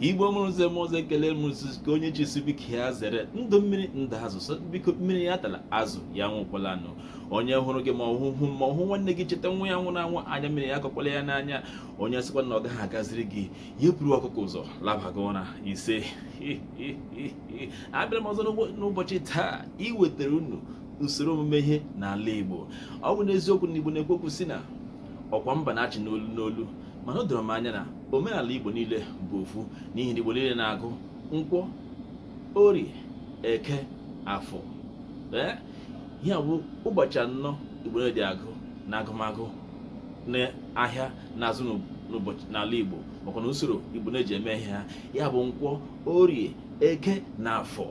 igbo mụrụ nze mụọ ọzọ ekele m ka onye chisi biko ya zere ndụ mmiri ndụ azụ so biko mmiri ya atala azụ ya anwụkwalanụ onye hụrụ gị ma ọ hụ ma ọ hụ nwanne gị cheta nwa ya nwụrụ anwụ anya mmiri ya akọkwala ya n'anya onye sịkwa na ọ gaghị agaziri gị ya buru ọkụkọ ụzọ labaga ụra isee abịara m ọzọ n'ụbọchị taa iwetara unu usoro omume ihe n'ala igbo ọ bụ n'eziokwu na igbo na-ekwu okwu sị na ọkwa mba na-achị n'olu n'olu mana o doro m anya na omenala Igbo niile bụ ofu n'ihi na Igbo niile na-agụ nkwọ orie eke afọ ee ya bụ ụbọchị anọ Igbo na-eji agụ n'agụmagụ n'ahịa na-azụ n'ụbọchị n'ala Igbo makwa na usoro Igbo na-eji eme ihe ha ya bụ nkwọ orie eke na afọ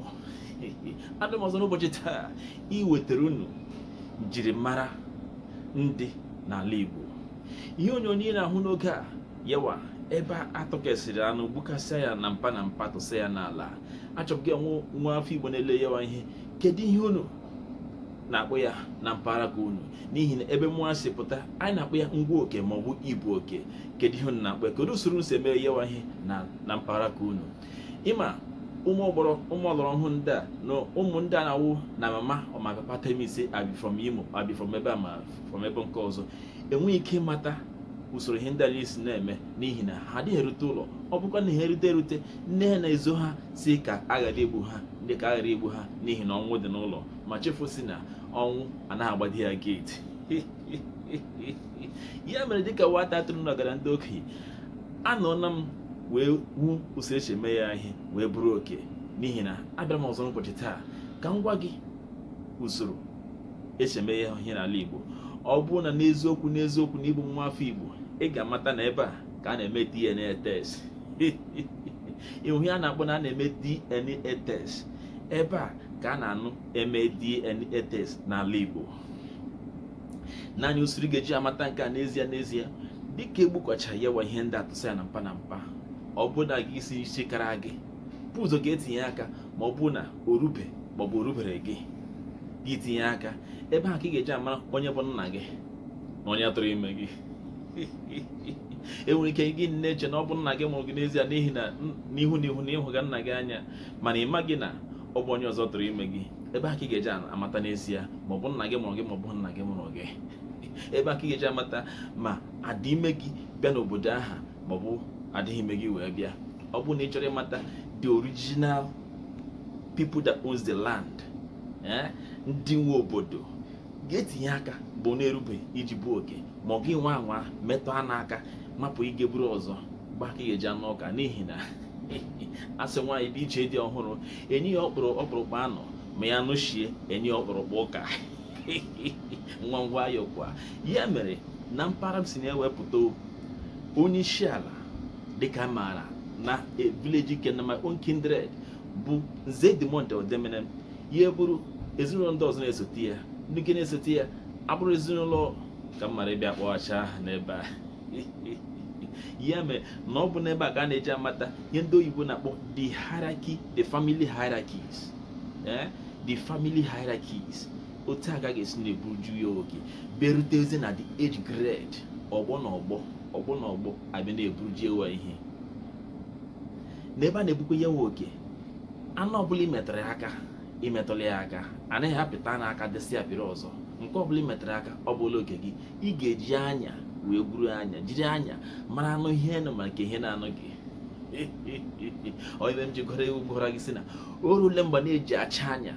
abịara m ọzọ n'ụbọchị taa iwetara unu njirimara ndị n'ala Igbo ihe onyonyo ị na-ahụ n'oge a yawa ebe a tọkesịrị anụ gbukasịa ya na mpa na mpa tụsa ya n'ala achọbụ gị nwa nwa afọ Igbo na-ele yawa ihe kedu ihe unu na-akpọ ya na mpaghara ka unu n'ihi na ebe mụwa si pụta anyị na-akpọ ya ngwa oke maọbụ ibu oke kedu ihe unu na-akpọ ya kedu usoro unu si eme yawa ihe na mpaghara ka unu ị ma ụmụ ọgbọrọ ụmụ ọlọrọ ọhụụ ndị a na ụmụ ndị a na-awụ na my mama or my papa tell me say I be from imo I be from ebe a I'm from ebe nke ọzọ enweghị ike ịmata usoro ihe ndị anyị si na-eme n'ihi na ha adịghị erute ụlọ ọ bụkwa na ha rute erute nne ha na-ezo ha sị ka a ghara igbu ha ndị ka a ghara igbu ha n'ihi na ọnwụ dị n'ụlọ ma chefuo sị na ọnwụ anaghị agbachi ya gate ya mere dịka nwata atụrụ nọgara ndị okenye anọọla m wee hụ usoro e si eme ya ihe wee buru oke n'ihi na abịara m ọzọ n'ụbọchị taa ka m gwa gị usoro e si eme ya ihe n'ala Igbo ọ bụrụ na n'eziokwu n'eziokwu na ị bụ nwa afọ Igbo ị ga-amata na ebe a ka a na-eme DNA test ị hụ ihe a na-akpọ na a na-eme DNA test ebe a ka a na-anọ eme DNA test n'ala Igbo naanị usoro ị ga-eji amata nke a n'ezie n'ezie dịka e gbukachara yawa ihe ndị a tụsa ya na mpa na mpa ọ bụ na gị isi isi kara gị bu ụzọ ga etinye aka ma ọ bụ na o rube ma ọ bụ o rubeghị gị gị tinye aka ebe ahụ ka ị ga-eji amara onye bụ nna gị na onye tụrụ ime gị e nwere ike gị na-eche na ọ bụ nna gị mụrụ gị n'ezie n'ihi na n'ihu n'ihu na ị hụga nna gị anya mana ị maghị na ọ bụ onye ọzọ tụrụ ime gị ebe a ka ị ga-eji amata n'ezie ma ọ bụ nna gị mụrụ gị ma ọ bụ nna gị mụrụ gị ebe a ka ị ga-eji amata ma a dị ime gị bịa n'obodo aha ma ọ bụ adịghị ime gị wee bịa ọ bụrụ na ị chọrọ ịmata the original people that owns the land eh, ndị nwe obodo ga etinye aka bụ na erubeghị gị bu oke ma ọ gị nwa anwa metụ anụ aka hapụ ị ga-eburu ọzọ mgbe a ka ị ga-eji anụ ụka n'ihi na asị nwaanyị bịa ije di ọhụrụ enye ya ọkpụrụkpụ anụ ma ya nọchie enye ya ọkpụrụkpụ ụka nwa ngwa ya kwa ya mere na mpaghara m si na ya wee pụta onye isi ala dịka m maara na village like na my own kindred bụ nze dimond odemenem ya eburu ezinụlọ ndị ọzọ na-esote ya ndị nke na-esote ya abụrụ ezinụlọ ka m ghara ịbịa kpọghachi aha n'ebe a ya mere na ọ bụ n'ebe a ka a na-eji amata ihe ndị oyibo na-akpọ the hierarchy the family hierarchies eh? the family hierarchies otu a ka a ga-esi na-eburuju ya oke bịarutezi na the age grade ọgbọ na ọgbọ ọgbọ na ọgbọ abịa na-eburuji ewa ihe n'ebe a na-ebukwa ya wụ oke anụ ọbụla imetụrụ ya aka imetụla ya aka anaghị apịta na aka dịsị apịrị ọzọ nke ọbụla imetụrụ aka ọ bụla oke gị ị ga-eji anya wee gwuru anya jiri anya mara anụ ihe nọ ma nke ihe na-anọghị ihe m ji gụrụ egwu gwara gị si na orule mgbe a na-eji acha anya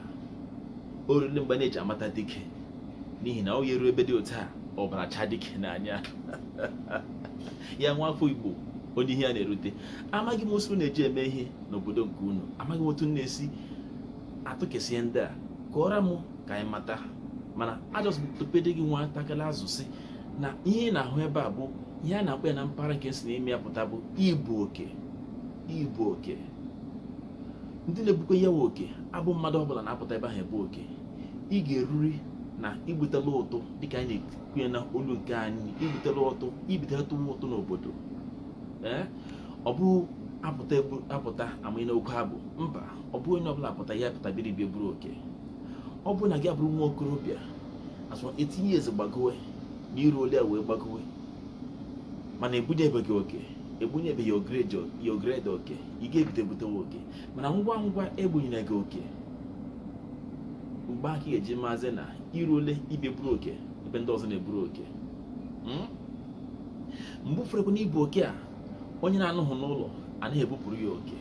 orule mgbe a na-eji amata dike n'ihi na o yeru ebe dị otu a ọbara achaa dike n'anya ya nwa afọ igbo onye ihe ya na-erute amaghị m osi unu na-eji eme ihe n'obodo nke unu amaghị m otu na-esi atụkesi ihe ndị a kọọrọ m ka anyị mata mana i just want to update gị nwata kala azụ si na ihe ị na-ahụ ebe a bụ ihe a na-akpọ ya na mpaghara nke m si na ime ya pụta bụ ibu oke ibu oke ndị na-ebukwa ya wụ oke abụ mmadụ ọbụla na-apụta ebe ahụ ebu oke ị ga-eruri na igbutela ụtụ dịka anyị na-ekwu ya na olu nke anyị igbutela ụtụ ibido tụwa ụtụ n'obodo ọ bụ apụta ama ị na-oke ebu mba ọ bụ onye ọbụla apụta ya apụta bịara ịbịa buru oke ọ bụ na gị abụrụ nwa okorobịa as of eighteen years gbagowe na iruole wee gbagowe mana ebunyebeghị oke ebunyebeghị your grade oke ị ga-ebute ebutewe oke mana ngwa ngwa ebunyere gị oke mgbe a ka a ga-eji mazie na iruole ịbịa buru oke ebe ndị ọzọ na-eburu oke hmm? mgbe ụfọdụ na ibu oke a onye na-anọghị n'ụlọ anaghị ebupụrụ ya oke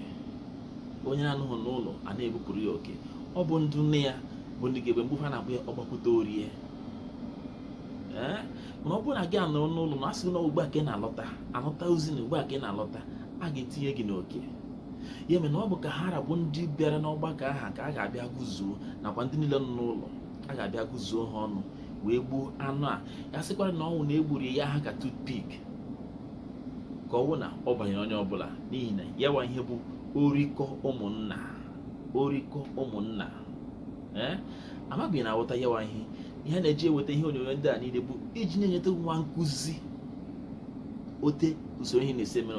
onye na-anọghị n'ụlọ anaghị ebupụrụ ya oke ọ bụ ndị nọ ya bụ ndị ga-ebu mgbe ụfọdụ a na-akpọ ya ọgbakwute orie mana ọ bụrụ na gị anọrọ n'ụlọ na asị na ugbu a ka ị na-alọta alọta ozi na ugbu a ka ị na-alọta a ga-etinye gị n'oke ya mere na ọ bụ ka ha ra bụ ndị bịara n'ọgbakọ ahụ ka a ga-abịa gụzuo nakwa ndị niile nọ n'ụlọ a ga-abịa gụzuo ha ọnụ wee gbuo anụ a ya sịkwara na ọ wụ na e gburu ya ha ka toothpick ka ọ wụ na ọ banyere onye ọbụla n'ihi na ya wa ihe bụ orikọ ụmụnna orikọ ụmụnna ee amabeghị na aghọta ya wa ihe ihe a na-eji eweta ihe onyonyo ndị a niile bụ iji na-enyeta nwa nkụzi otu usoro ihe na-esi eme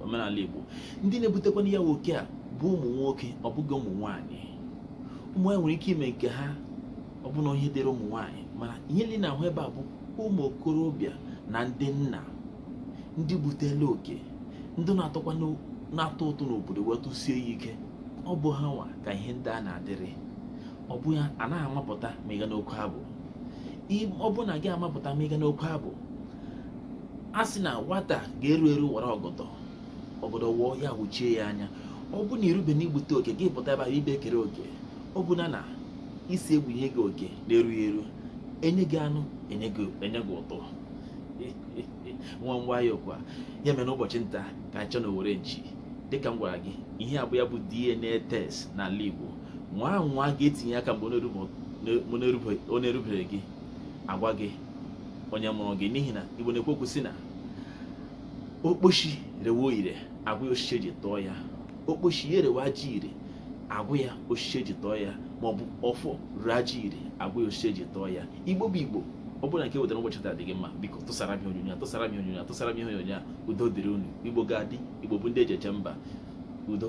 omenala Igbo ndị na-ebutekwana ya nwa oke a bụ ụmụ nwoke ọ bụghị ụmụ nwaanyị ụmụ nwaanyị nwere ike ime nke ha ọ bụrụ na ọ ihe dịrị ụmụ nwaanyị mana ihe niile na-ahụ ebe a bụ ụmụ okorobịa na ndị nna ndị butela oke ndị na-atụkwa na-atụ ụtụ n'obodo wee tụsie ya ike ọ bụ ha nwa ka ihe ndị a na-adịrị ọ bụ ya anaghị amapụta ma ịga n'oke abụ ọ bụrụ na gị amapụta ma ịga n'oke abụ a sị na nwata ga-eru eru wara ọgọdọ ọgọdọ wụọ ya wụchie ya anya ọ bụrụ na i rube na igbute oke gị pụta ebe ahụ ebe e kere oke ọ bụ na na isi egbunye gị oke na-erughị eru enye gị anụ enye gị ụtọ nwa ngwa ya okwa ya mere n'ụbọchị nta ka anyị chụọ n'owere nchi dịka m gwara gị ihe a bụ ya bụ DNA test n'ala Igbo nwaa anwa gaa tinye aka mgbe ọ na-erubere gị agwa gị onye mụrụ gị n'ihi na Igbo na-ekwu okwu sị na okposhi rewe ajọ ire agwa ya osisi eji tụọ ya okposhi ya erewe ajọ ire agwa ya osisi eji tụọ ya maọbụ ọfọ rewe ajọ ire agwa ya osisi eji tụọ ya igbo bụ igbo ọ bụrụ na nke wetara ụbọchị taa dị gị mma biko tụsara m onyonyo tụsara m onyonyo tụsara m ihe onyonyo a udo dịrị unu igbo ga-adị igbo bụ ndị eji eje mba udo